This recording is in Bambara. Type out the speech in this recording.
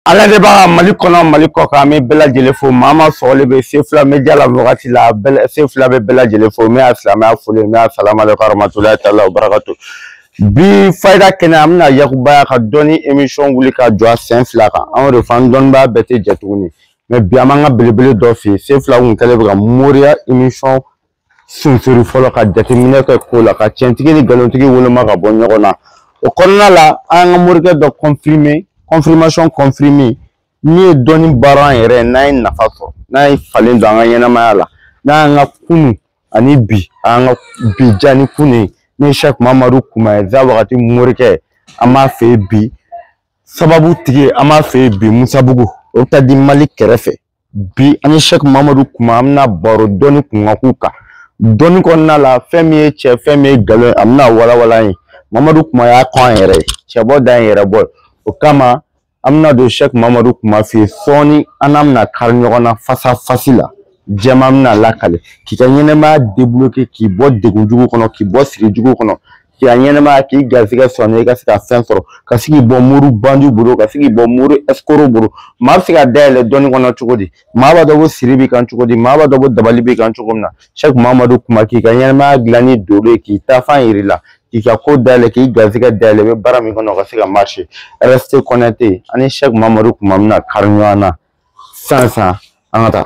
ala de b'a mali kɔnɔ mali kɔ kan an bɛ bɛɛ lajɛlen fo maa maa sɔgɔlen bɛ sefula media la wagati la sefula bɛ bɛɛ lajɛlen fo min ye silamɛya foli min ye salamu alekum warahmatulahi taala wa barakatu bi fayida kɛnɛ an bɛna yakubaya ka dɔnni emisɔn wuli ka jɔ a sen fila kan an y'o de fɔ an dɔnnibaa bɛɛ tɛ jɛ tuguni mɛ bi an b'an ka belebele dɔ fɛ yen sefula kun kɛlen bɛ ka moriya emisɔn sunsori fɔlɔ ka jateminɛ kɛ ko la ka cɛntigi ni nkalontigi woloma ka bɔ ɲɔgɔn na o kɔnɔna la an ka morikɛ dɔ kɔnfirime kɔnfirimasiɔn kɔnfirime min ye dɔnni baara an yɛrɛ n'an ye nafa sɔrɔ n'a ye falen don an ka ɲɛnamaya la n'an ka kunu ani bi an ka bi ja ni kunu ye n'o ye sɛki mamadu kuma ye za wagati morikɛ an b'a fɛ bi sababu tigi an b'a fɛ bi misabugu ɔpitali di mali kɛrɛfɛ bi an ni sɛki mamadu kuma an bɛna baro dɔnni kunkanko kan dɔnni kɔnɔna la fɛn min ye cɛn fɛn min ye nkalon ye a bɛna walawala ye mamadu kuma y'a kɔ an yɛrɛ ye cɛbɔ da in yɛrɛ bɔ o kama an bɛna don sɛki mamadu kuma fɛ yen sɔɔni an n'a bɛna kari ɲɔgɔn na fasafasi la jɛman bɛna lakali k'i ka ɲɛnɛmaya debuloke k'i bɔ degun jugu kɔnɔ k'i bɔ siri jugu kɔnɔ k'i ka ɲɛnɛmaya k'i garisɛgɛ sɔrɔ i ka se ka fɛn sɔrɔ ka se k'i bɔ mori bandiw bolo ka se k'i bɔ mori ɛsikoro bolo maa bɛ se ka dayɛlɛ dɔnni kɔnɔ cogo di maa b'a dɔn ko siri b'i kan cogo di maa b'a dɔn ko dabali b'i kan cogo min na sɛki mamadu kuma k'i ka ɲɛnɛmaya dilan ni dolo ye k'i taafan yir'i la k'i ka ko dayɛlɛ k'i garisɛgɛ dayɛlɛ i bɛ baara min kɔnɔ ka se ka marise rɛste kɔnɛkite an ni sɛki mamadu kuma bɛna kari ɲɔgɔn na sisan sisan an ka taa